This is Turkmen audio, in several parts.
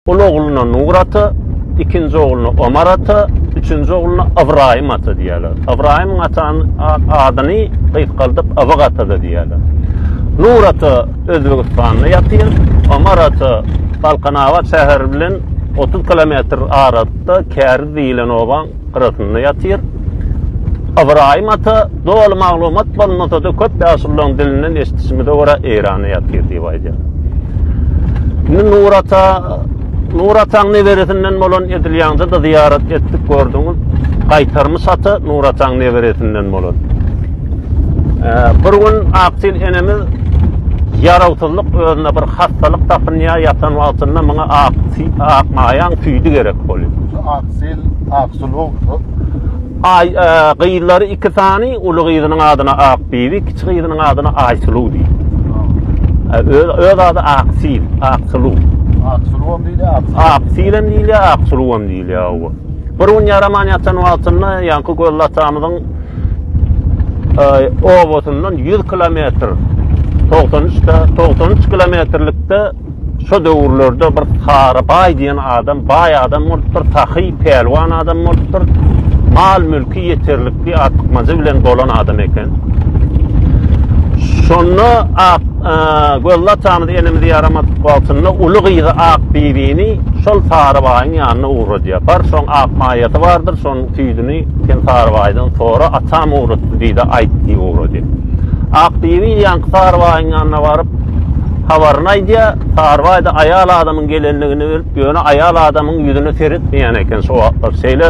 Ol ogluna Nur ata, ikinji ogluna Omar ata, üçünji ogluna Ybraýym ata diýýärler. Ybraýymyň atanyň adyny gysgaldyp Ybyk ata-da diýýärler. Nur ata Özbegistanda ýatyr, Omar ata Balkanabat şäheri bilen otuz kilometr aralykda Käriz diýlen obaň gyrasynda ýatyr. Ybraýym ata doly maglumat bolmasa-da, köp ýaşulylaryň dilinden eşidişimize görä, Eýranda ýatyr diýip aýdýar. Indi Nur ata, Nur ataň neberesinden bolan Edil ýaňda-da zyýarat etdik, gördüňiz. Gaýtarmyş ata Nur ataň neberesinden bolan. Bir gün Aktil enemiz ýarawsyzlyk özüne bir hassalyk tapynýar, ýatan wagtynda muňa ak, ak maýaň süýdi gerek bolýar. Sil Aksülogdur. Aý, gyzlary iki sany, uly gyzynyň adyna Akbibi, kiçi gyzynyň adyna Aýsuluw diýip. Öz, öz ady Aksil, Aksuluw. Aksuluwam diýilýär, Aksil. Aksilem diýilýär, Aksuluwam diýilýär, owa. Bir gün ýaraman ýatan wagtynda, ýaňky Gözli atamyzyň obasynyň 100 kilometr, 93 de, 93 kilometrlikde Şo döwürlerde bir Kary baý diýen adam baý adam bolupdyr, sahy, pälwan adam bolupdyr. Mal-mülki ýeterlikli, artykmajy bilen dolan adam eken. Şonda Ak gözli atamyz enemiz ýaramadyk wagtynda uly gyzy Akbibini şol Sary baýyň ýanyna ugradýar. Bar, şoň ak maýasy bardyr, şonuň süýdüni sen Sary baýdan sora, atam ugratdy diý-de aýt diýip ugradýar. Akbibi ýaňky Sary baýyň ýanyna baryp, Habaryny aýdýar, Sarybaýda aýal adamyň gelenligini bilip, ýöne aýal adamyň ýüzüne seretmeýän eken şo wagtlar. Şeýle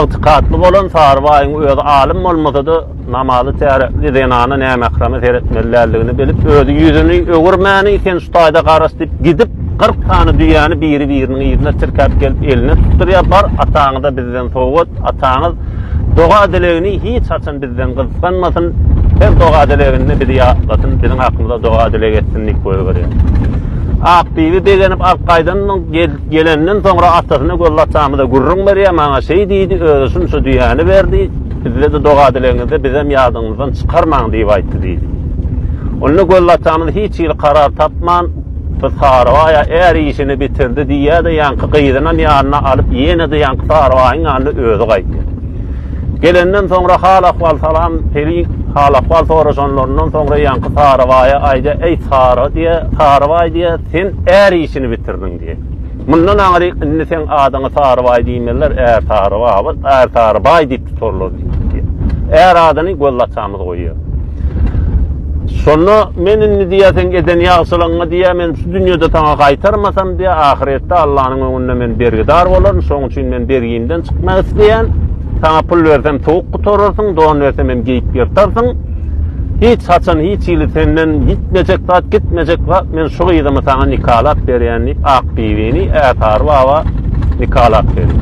ygtykatly bolan Sarybaýyň özi alym bolmasa-da, namazy täretli zenana nämähreme seretmeli däldigini bilip, özi ýüzüni öwürmäni, Sen şu taýda garaş diýip, gidip, kyrk sany düýäni biri-biriniň yzyna tirkäp gelip eline tutdurýar, Bar, ataňyza bizden sowgat, ataňyz, Doga-dilegini hiç haçan bizden gysganmasyn, her doga-dileginde bizi ýatlasyn, biziň hakymyza doga-dileg etsin diýip goýberýär. Akbibi begenip alyp gaýdandan gelenden soňra atasyna Gözli atamyza gürrüň berýär, maňa şeý diýdi, özi şunça düýäni berdi, bizde-de doga-dilegiňizde bizem ýadyňyzdan çykarmaň diýip aýtdy diýdi. Onda Gözli atamyz hiç hili karar tapman, Gyz Sarybaýa Är işini bitirdi diýýär-de, ýaňky gyzynam ýanyna alyp, ýene-de ýaňky Sarybaýyň ýanyna özi gaýtýar. Gelenden soňra hal-ahwal salam, Pelin hal-ahwal soraşanlaryndan soňra ýaňky Sarybaýa aýdýar, Eý, Sary diýýär, Sarybaý diýýär, sen Är işini bitirdiň diýýär. Mundan aňry indi seň adyňa Sarybaý diýmezler, Ärsarybaby, Ärsarybaý diýip tutarlar diýipdi. Är adyny Gözlaçamyz goýýar. Şonda men indi diýýär, seň eden ýagşylygyňy diýýär, men şu dünýede saňa gaýtarmasam diýýär, ahyretde Allanyň öňünde men bergidar bolaryn, şonuň üçin men bergimden çykmak isleýän. Saňa pul bersem sowuk gutararsyň, don bersem hem geýip ýyrtarsyň. Hiç haçan hiç hili senden ýitmejek zat, gitmejek zat, men şu gyzymy saňa nikalap berýän diýip Akbibini Ätary baba nikalap berýär.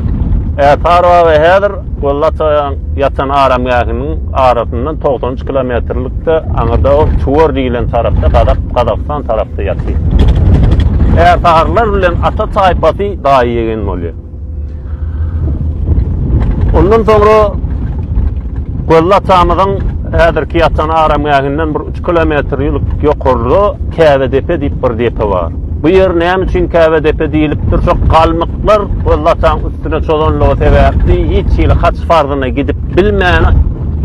Ätary baba häzir Güllaçaryň ýatan aramgähiniň arasyndan togsan üç kilometrlikde aňyrda ol Çuwar diýilen tarapda Gazak, Gazagystan tarapda ýatyr. Ätarylar bilen ata taýpasy daýy-ýegen bolýar. Ondan soňra Gözli atamyzyň häzirki ýatan aramgähinden bir 3 kilometr ýülik ýokarda Käbedepe diýip bir depe bar. Bu ýer näme üçin Käbedepe diýlipdir? Şo galmyklar Gözli ataň üstüne çozanlygy sebäpli hiç hili haç farzyna gidip bilmän,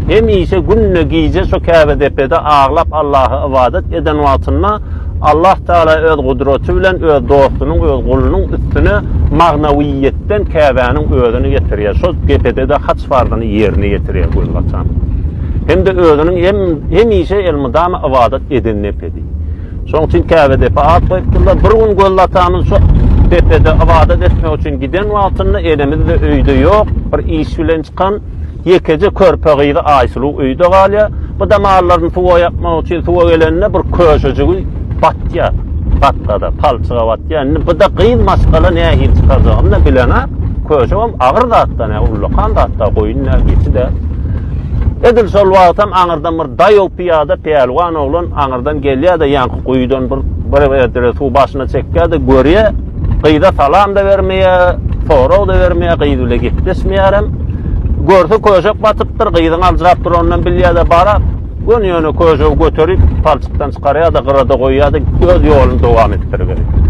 hemişe günde gije şo Käbedepede aglap Allaha ybadat eden wagtynda Allah Tagala öz gudraty bilen öz dostunyň, öz gulunyň üstüne magnawiýetden Käbäniň özüni getirýär. Şol depede-de haç farzyny ýerine ýetirýär gözbaşan. Hem-de özüniň hemişe elmydama ybadat eden depedi. Şonuň üçin Käbe depe at goýupdyrlar. Bir gün gözbaşamyz şu depede ybadat etmek üçin giden wagtynda enemiz-de öýde ýok, bir iş bilen çykan. Ýekeje körpe gyzy Aýsuluw öýde galýar. Bu damarlaryny suwa ýapmak üçin suwa gelende bir köşejigi batýar. Gatkada, palçyga batýar. Indi bu-da gyz maşgala nähili çykarjagyny-da bilenok. Köşegem agyr zat-da, näme ullakan zat-da, goýun däl, geçi däl. Edil şol wagtam aňyrdan bir daýaw pyýada pälwan oglan aňyrdan gelýär-de, ýaňky guýudan bir bir erdere suw başyna çekýär-de, görýär, Gyza salam-da bermeýär, sorag-da bermeýär, gyz bile gepleşmeýärem. Görse köşek batypdyr, gyzyň aljyrap duranyndan bilýär-de bara, göni-göni köşegi göterip, palçykdan çykarýar-da, gyrada goýýar-da, öz ýoluny dowam etdiriberýär.